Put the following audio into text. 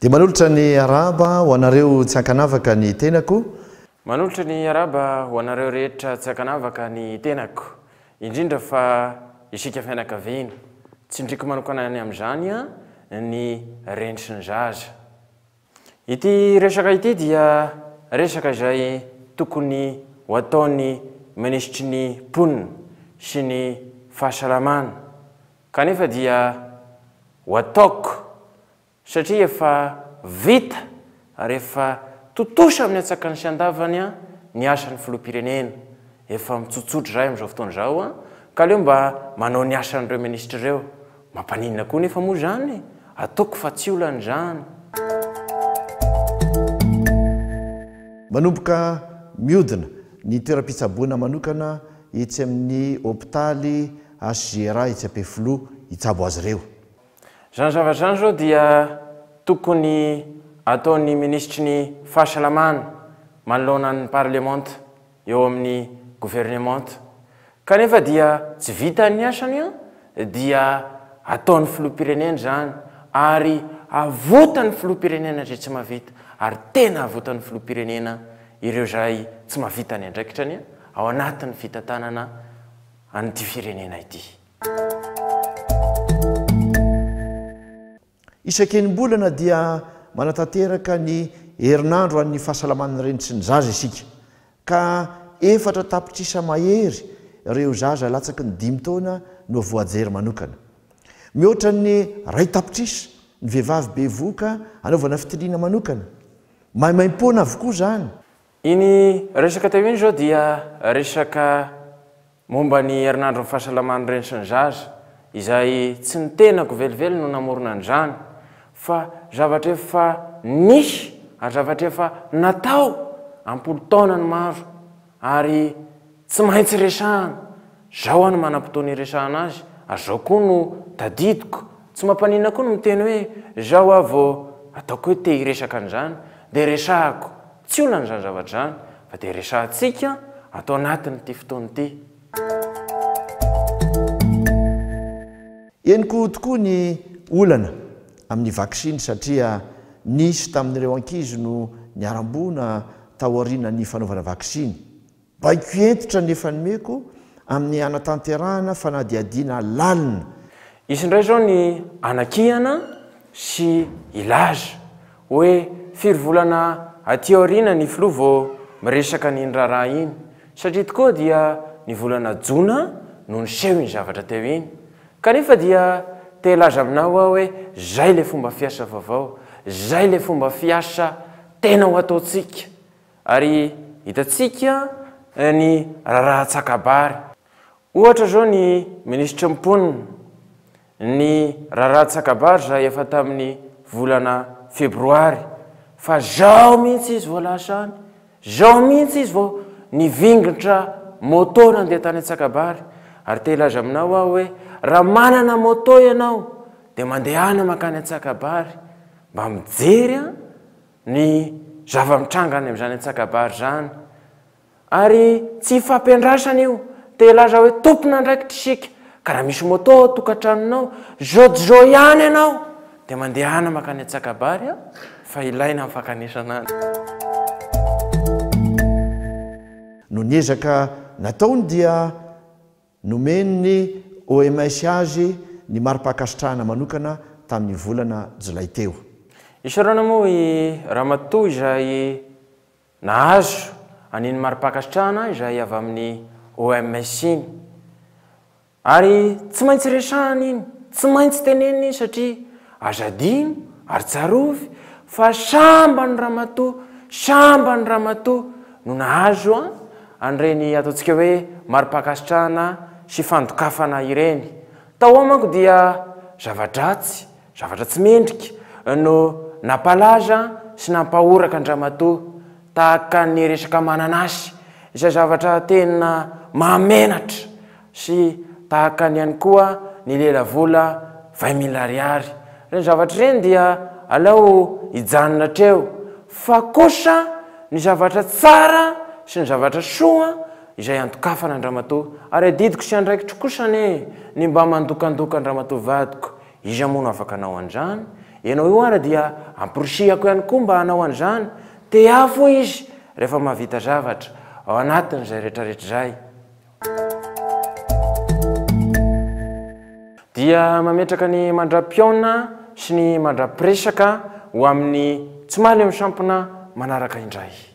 dia manolotra ny araba ho anareo tsy ankanavaka ny tenako manolotra ny araba ho anareo rehetra tsy ankanavaka ny tenako indrindra fa isika fianakaviana tsindriko manokanany amin'izany a ny rentry ny zaza Ity resaka ity dia resaka izay tokony ho ataon'ny minisitry ny mponina sy ny fahasalamana kanefa dia ho ataoko satria efa vita ary efa tontosa amin'ny antsakany sy andavany ny asan'ny filoham-pirenena efa mitsotsotra izay amin'izao fotoana izao ka aleo mba manao ny asan'ireo minisitra ireo Mampaninona koa nefa moa izany e! Ataoko fa tsy olana izany. Manomboka mihodina ny toeram-pitsaboana manokana etsy amin'ny hopitaly HJRA etsy Ampefiloha hitsabo azy ireo. Izany zavatra izany izao dia tokony ataon'ny minisitry ny Fahasalamana manoloana ny parlemanta. eo amin'ny governemanta kanefa dia tsy vita ny asany an, dia ataon'ny filoham-pirenena izany ary avotan'ny filoham-pirenena izay tsy mahavita ary tena avotan'ny filoham-pirenena ireo izay tsy mahavita ny andraikitrany ao anatin'ny fitantanana an'ity firenena ity. Isan-kenim-bolana dia manatanteraka ny herinandro an'ny fahasalaman'ny reny sy ny zaza isika, ka efatra tapitrisa mahery ireo zaza latsaky ny dimy taona no voajery manokana. Mihoatra ny iray tapitrisa ny vehivavy bevohoka anaovana fitiliana manokana. Maimaimpoana avokoa izany. Iny resaka teo iny izao dia resaka momba ny herinandron'ny fahasalaman'ny reny sy ny zaza, izay tsy ny tenako velively no namorona an'izany fa zavatra efa nisy ary zavatra efa natao am-polon-taonany maro ary tsy maintsy resahana. Izao aho no manam-potoana hiresahana azy ary izao koa no tadidiko. Tsy mampaninona koa ny miteny hoe izao aho vao ataoko hoe te-hiresaka an'izany dia resahako. Tsy olana izany zavatra izany fa dia resahantsika ato anatin'ity fotoana ity. Henoko tokoa ny olana amin'ny vaksiny satria nisy tamin'ireo ankizy no niharam-boina taorianan'ny fanaovana vaksiny. Baiko hentitra ny efa nomeko amin'ny hanatanterahana fanadihadiana lalina. Hisy indray izao ny hanakihana sy hilaza hoe firy volana aty aoriana ny filoha vao miresaka an'iny raharaha iny, satria tokoa dia ny volana jona no niseho iny zavatra teo iny. Kanefa dia te hilaza aminao aho hoe izay ilay fomba fiasa vaovao, izay ilay fomba fiasa tena ho ataontsika. Ary hitantsika ny raharaha antsakabary. Ohatra izao ny minisitry ny mponina, ny raharaha antsakabary izay efa tamin'ny volana febroary fa izao mihitsy izy vao lasa any, izao mihitsy izy vao nivingontra moto nandeha tany antsakabary. Ary te hilaza aminao aho hoe raha manana moto ianao dia mandehana mankany antsakabary mba mijery an! ny zava-mitranga any amin'izany antsakabary izany ary tsy ifampiandrasana io, te hilaza hoe tompon'andraikitra isika ka raha misy moto ao an-tokantranonao, zao dia zao ihany ianao dia mandehana mankany antsakabary an, fa ilaina ny fankanesana any. Noho ny ezaka nataony dia Nomen'ny OMS azy ny mari-pankasitrahana manokana tamin'ny volana Jolay teo. Isaorana moa i Ramatoa izay nahazo an'iny mari-pankasitrahana izay avy amin'ny OMS iny. Ary tsy maintsy resahana iny, tsy maintsy tenenina iny satria Aza adino ary tsarovy fa sambany ramatoa sambany ramatoa no nahazo an an'ireny ataontsika hoe maripankasitrahana sy fandokafana ireny. Tao ao manko dia zava-dratsy, zavatra tsy mendrika no nampalaza sy nampahoraka an-dramatoa tahaka ny resaka mananasy izay zavatra tena mahamenatra sy tahaka ny ihany koa ny lela vola vingt mille ariary, ireny zavatra ireny dia aleo hijanona hatreo, fa kosa ny zavatra tsara sy ny zavatra soa izay andokafana an-dramatoa ary adidiko sy andraikitro kosa anie ny mba mandokandoka an-dramatoa vadiko, iza moa no afaka hanao an'izany, ianao io ary dia amporisihako ihany koa mba hanao an'izany, tehafo izy rehefa mahavita zavatra, ao anatin'izay rehetrarehetra izay. dia mametraka ny mandra-pihaona sy ny mandra-piresaka ho amin'ny tsy mahaleo ny sampona manaraka indray.